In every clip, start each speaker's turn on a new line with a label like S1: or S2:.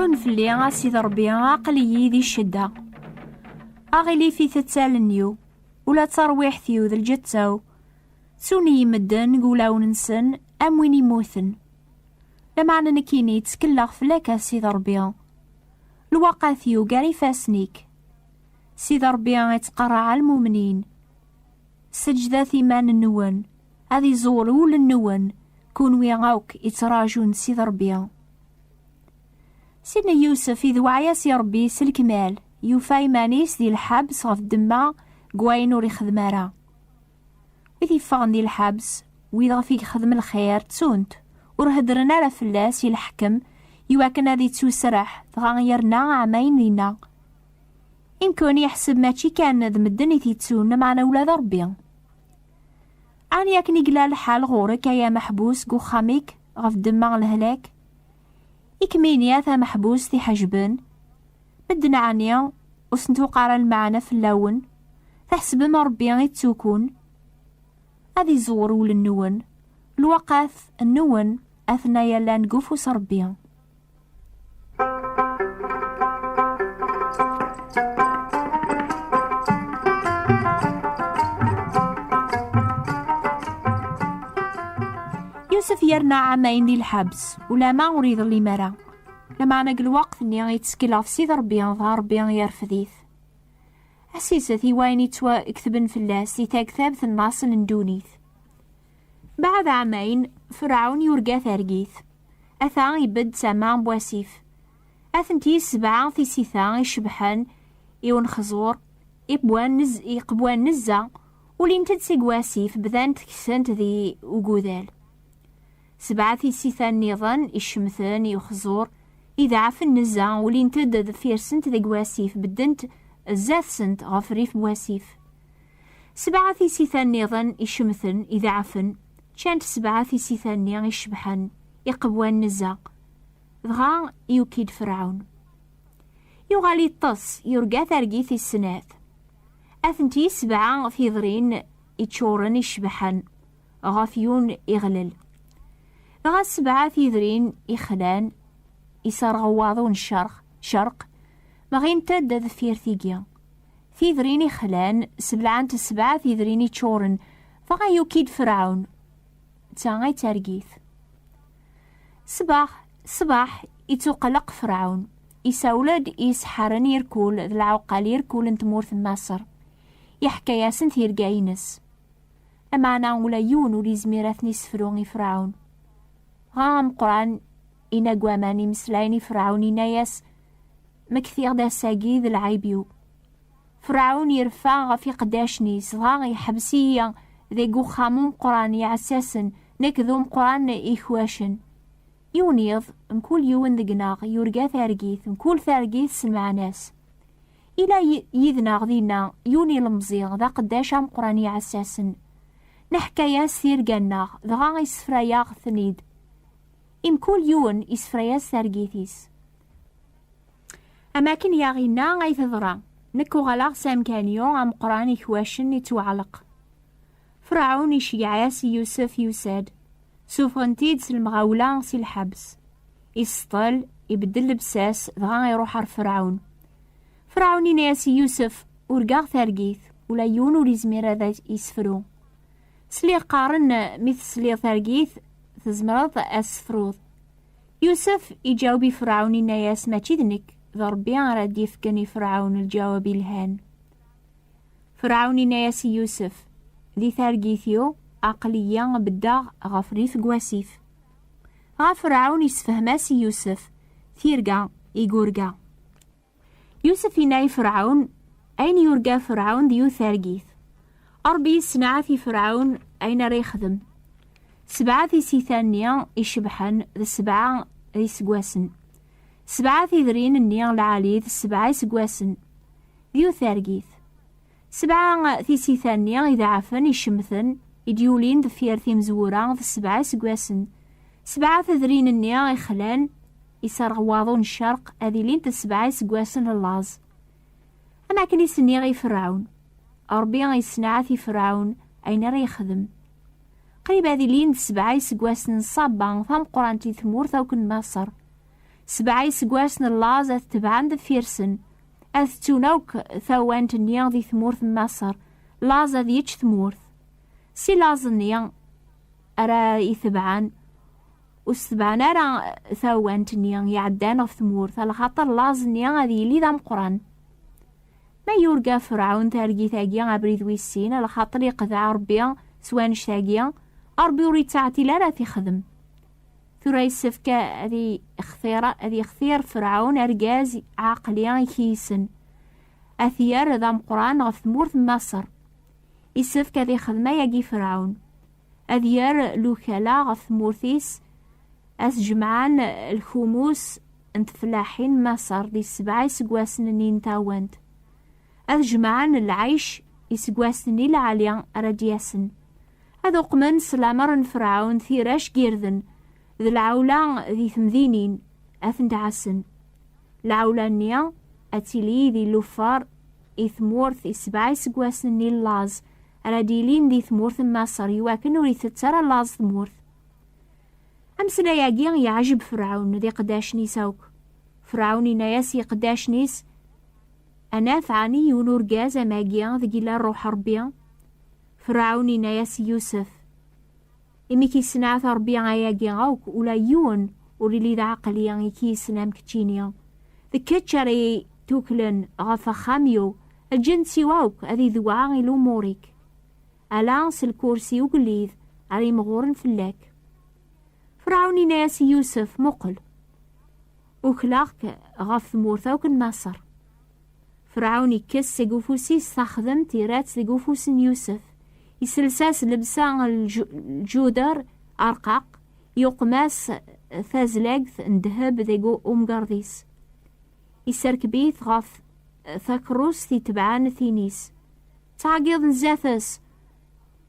S1: ḥun fell-i a sid rebbi aql-iyi di ccedda aɣilif i tettalen-iw ula d tarwiḥt-iw d lǧetta-w ttun-iyi medden deg wulawen-nsen am win immuten lameɛna nekkini ttkeleɣ fell-ak a sid rebbi lwaqat yugar ifassen-ik sid rebbi ittqerraɛ almumnin Seǧǧdet iman-nwen, ad iẓur ul-nwen, kunwi akk ittraǧun Sid Rebbi. Sidna Yusef idewɛa-yas i Rebbi s lekmal, yufa iman-is di lḥabs ɣef ddemma n wayen ur ixdem ara. Wid yeffɣen di lḥabs, wid ɣef i yexdem lxir, ttun-t, ur heddren ara fell-as i leḥkem, iwakken ad ittuserreḥ, dɣa yerna ɛamayen dinna. Imkun yeḥseb mačči kan d medden i t-yettun, lameɛna ula d Rebbi. Ɛni akken i yella lḥal ɣur-k ay ameḥbus deg uxxam-ik ɣef ddemma n lehlak? I kem-ini a tameḥbust iḥejben, medden ɛni ur sen-tuq ara lmeɛna fell-awen, tḥesbem Rebbi i ttukun? Ad iẓewwer wul-nwen, lwaqat nwen atna yallan deg ufus n Rebbi. Yusef yerna ɛamayen di lḥabs, ulama ur iḍellim ara. Lameɛna deg lweqt-nni yettkel ɣef Sidi Rebbi, dɣa Rebbi yerfed-it. Asiset i wayen yettwaketben fell-as di taktabt n laṣel n ddunit. Baɛd ɛamayen, Ferɛun yurga targit. Ata ibedd tama n wasif. Atenti sebɛa tisita icebḥen i unexẓur, iqebwan nezza, ulint-d seg wasif, bdant kessent di ugudal. Sebɛa tisita nniḍen icemten i uxẓur, ideɛfen nezza, ulint-d deffir-sent deg wasif, beddent zdat-sent ɣef rrif n wasif. Sebɛa tisita nniḍen icemten, ideɛfen, ččant sebɛa tisita-nni icebḥen, iqewwan n zzeq. Dɣa yuki-d Ferɛun. Yuɣal iṭṭes, yurga targit i snat. Atenti sebɛa tidrin iččuren icebḥen, ɣef yun iɣlel. Dɣa sebɛa tidrin ixlan, iserɣ waḍu n ccerq, ccerq, mɣint-d deffir tigi. Tidrin ixlan, sebleɛent sebɛa tidrin iččuren, dɣa yuki-d Ferɛun. D ta ay d targit. Ṣṣbeḥ, ṣṣbeḥ, ittuqelleq Ferɛun. Isawel-d i iseḥḥaren irkul d lɛuqqal irkul n tmurt n Maṣer. Iḥka-asen tirga-nnes. Lameɛna ula yiwen ur yezmir ad ten-yessefru i Ferɛun. Dɣa ameqran inagwaman imeslayen i Ferɛun inna-yas, Ma ktiɣ-d ass-agi d lɛib-iw. Ferɛun irfa ɣef iqeddacen-is, dɣa iḥbes-iyi deg uxxam umeqqran iɛessasen, nekk d umeqqran ikwacen. Yiwen yiḍ, mkul yiwen deg-neɣ yurga targit, mkul targit s lmeɛna-s. Ila yid-neɣ dinna yiwen ilemẓi, d aqeddac ameqqran iɛessasen. Neḥka-yas tirga-nneɣ, dɣa issefray-aɣ-ten-id. I mkul yiwen isefra-yas targit-is. Am akken i aɣ-inna ay teḍra, nekk uɣaleɣ s amkan-yu ameqqran ikwacen ittwaɛleq. Ferɛun iceyyeɛ-as i Yusef yusa-d, sufɣen-t-id s lemɣawla si lḥebs. Iseṭṭel, ibeddel lebsas, dɣa iruḥ ar Ferɛun. Ferɛun inna-yas i Yusef, Urgaɣ targit, ula yiwen ur izmir ad isefru. Sliɣ qqaren mi tesliḍ targit tezmreḍ ad sefruḍ. Yusef iǧaweb i Ferɛun inna-yas mačči d nekk, d Ṛebbi ara d-yefken i Ferɛun lǧawab ilhan. Ferɛun inna-yas i Yusef, di targit-iw aql-iyi beddeɣ ɣef rrif n wasif. Dɣa Ferɛun isefhem-as i Yusef tirga i yurga. Yusef yenna i Ferɛun ayen yurga Ferɛun d yiwet targit. Ṛebbi yessenɛat i Ferɛun ayen ara yexdem. Sebɛa tisita-nni icebḥen d sebɛa d iseggasen. Sebɛa tidrin-nni lɛali d sebɛa iseggasen. D yiwet targit. Sebɛa tisita-nni idaɛfen icemten i d-yulin deffir timezwura d sebɛa iseggasen. Sebɛa tedrin-nni ixlan Iserɣ waḍu n ccerq ad ilint d sebɛa iseggasen n laẓ. Am akken i s-nniɣ i Ferɛun. Ṛebbi issenɛat i Ferɛun ayen ara yexdem. Qrib ad ilin d sebɛa iseggasen n ṣṣaba tameqqrant i tmurt akk n Maṣer. Sebɛa iseggasen n laẓ ad tebɛen deffir-sen, ad ttun akk tawant-nni di tmurt n Maṣer, laẓ ad yečč tmurt. Si laẓ-nni ara itebɛen, ur setbaɛen ara tawant-nni iɛeddan ɣef tmurt a lxaṭer laẓ-nni ad yili d ameqran ma yurga ferɛun targit-agi abrid wis sin a lxaṭer yeqdeɛ rebbi s wanect-agi rebbi ur yettɛetil ara ad t-ixdem tura yessefk ad yextir ad yextir ferɛun argaz ɛaqli i k-yissen ad t-yerr d ameqran ɣef tmurt n maṣer yessefk ad ixdem ayagi ferɛun ad yerr lukala ɣef tmurt-is, ad t-jemɛen lkumus n tfellaḥin n Maṣer di sebɛa iseggasen-nni n tawant, ad jemɛen lɛic iseggasen i lɛali ara d-yasen, ad uqmen s lamer n Ferɛun tirac n yirden d lɛewla di temdinin, ad tent-ɛassen. Lɛewla-nni ad tili d ilufar i tmurt i sebɛa iseggasen-nni n laẓ ara d-yilin di tmurt n Maṣer i wakken ur itett ara laẓ tmurt. Ameslay-agi yeɛjeb Ferɛun d iqeddacen-is akk. Ferɛun inna-yas i iqeddacen-is, Ad naf ɛni yiwen urgaz am agi deg yella Rruḥ n Ṛebbi? Ferɛun inna-yas i Yusef, Imi k-yessenɛet Ṛebbi ayagi akk, ula yiwen ur illi d aɛeqli i k-yessen am keččini. D kečč ara yi-tuklen ɣef axxam-iw, lǧens-iw akk ad idewɛa i lumuṛ-ik. Ala s lkursi ugellid ara imɣuren fell-ak. Ferɛun inna-yas i Yusef, Muqel! Ukleɣ-k ɣef tmurt akk n Maṣer. Ferɛun ikkes seg ufus-is taxdemt, irra-tt deg ufus n Yusef. Isels-as lebsa n lǧuder arqaq, yuqem-as tazlagt n ddheb deg umgerḍ-is. Isserkeb-it ɣef takerrust itebɛen tin-is. Ttɛeggiḍen zdat-s,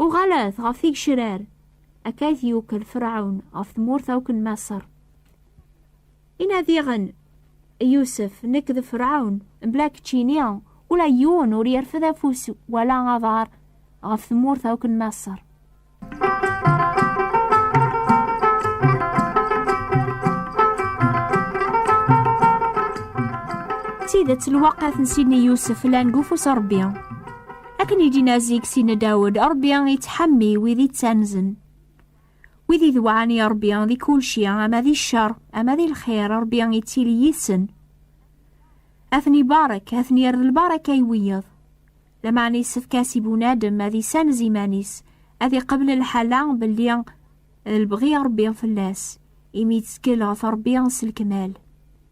S1: Uɣalet ɣef tigecrar! Akka i t-yukel Ferɛun ɣef tmurt akk n Maṣer. Ina diɣen, Yusef, nekk d Ferɛun, mebla keččini, ula yiwen ur yerfed afus wala aḍar ɣef tmurt akk n Maṣer. tidet lwaqat n sidni yusef llan deg ufus rebbi akken i d-inazi deg sidna dawed rebbi yettḥammi wid ittanzen Wid idewɛan i Ṛebbi di kulci, ama di cceṛ, ama di lxir, Ṛebbi ittili yid-sen. Ad ten-ibarek, ad ten-irr lbaraka i wiyeḍ. Lameɛna yessefk-as i bunadem ad isanez iman-is, ad iqebl lḥala belli d lebɣi Ṛebbi fell-as, imi yettkel ɣef Ṛebbi s lekmal.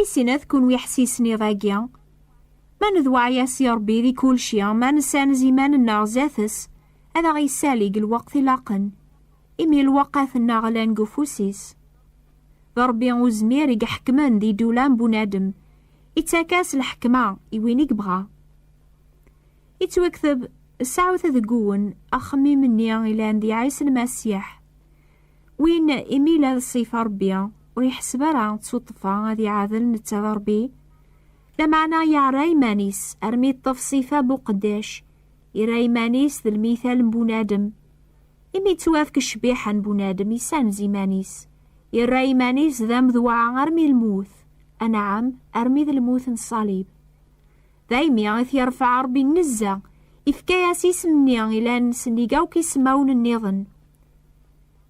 S1: I sinat kun wi ḥsisen iḍ-agi? Ma nedweɛyas i Rebbi di kulci, ma nessanez iman-nneɣ zdat-s, ad aɣ-yessali deg lweqt ilaqen, imi lweqqat-nneɣ llan deg ufus-is. D Rebbi Uzmir i iḥekmen di ddula n bunadem, ittak-as lḥekma i win i yebɣa. Ittwekteb, Sɛut deg-wen axemmim-nni ilan di Ɛisa Lmasiḥ. Win imi la ṣṣifa Ṛebbi, ur iḥesseb ara d tuṭṭfa ad iɛadel netta d Ṛebbi, lameɛna yeɛra iman-is armi yeṭṭef ṣṣifa n uqeddac, yerra iman-is d lmital n bunadem. Imi yettwafk ccbiḥa n bunadem, yessanez iman-is, yerra iman-is d amedwa armi lmut, anɛam, armi d lmut n ṣṣalib. Daymi i t-yerfeɛ Ṛebbi nnezza, ifka-yas isem-nni ilan sennig akk ismawen nniḍen.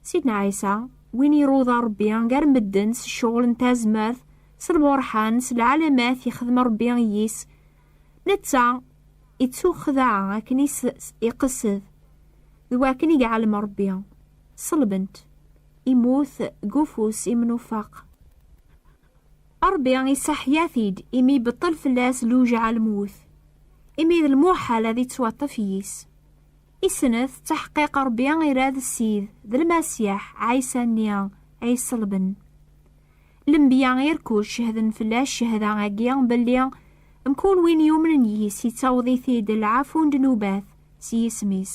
S1: Sidna Ɛisa, win iruḍa Ṛebbi gar medden s ccɣel n tazmert, s lburḥan, s lɛalamat ixdem Ṛebbi i yis, netta ittuxdaɛ akken i s-iqessed, d wakken i iɛellem Ṛebbi. Ṣelben-t, immut deg ufus imnufaq. Ṛebbi iseḥya-t-id, imi ibeṭṭel fell-as lewjeɛ lmut, imi d lmuḥal ad ittwaṭṭef yis. Isnet, ttaḥqiq Ṛebbi ira d Ssid, d Lmasiḥ, Ɛisa-nni, ay iṣelben. Lenbiya irkul cehden fell-as cehda-agi belli mkul win yumnen yis ittaweḍ-it-id lɛafu n ddnubat s yisem-is.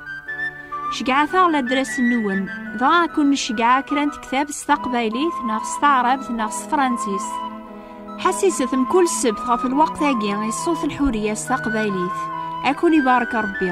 S1: Ceyyɛet-aɣ ladras-nwen. Dɣa ad kun-nceyyeɛ kra n tektab s taqbaylit neɣ s taɛrabt neɣ s tefransist. Ḥassiset mkul ssebt ɣef lweqt-agi i ṣṣut n Ḥuriya s taqbaylit. Ad kun-ibarek Ṛebbi.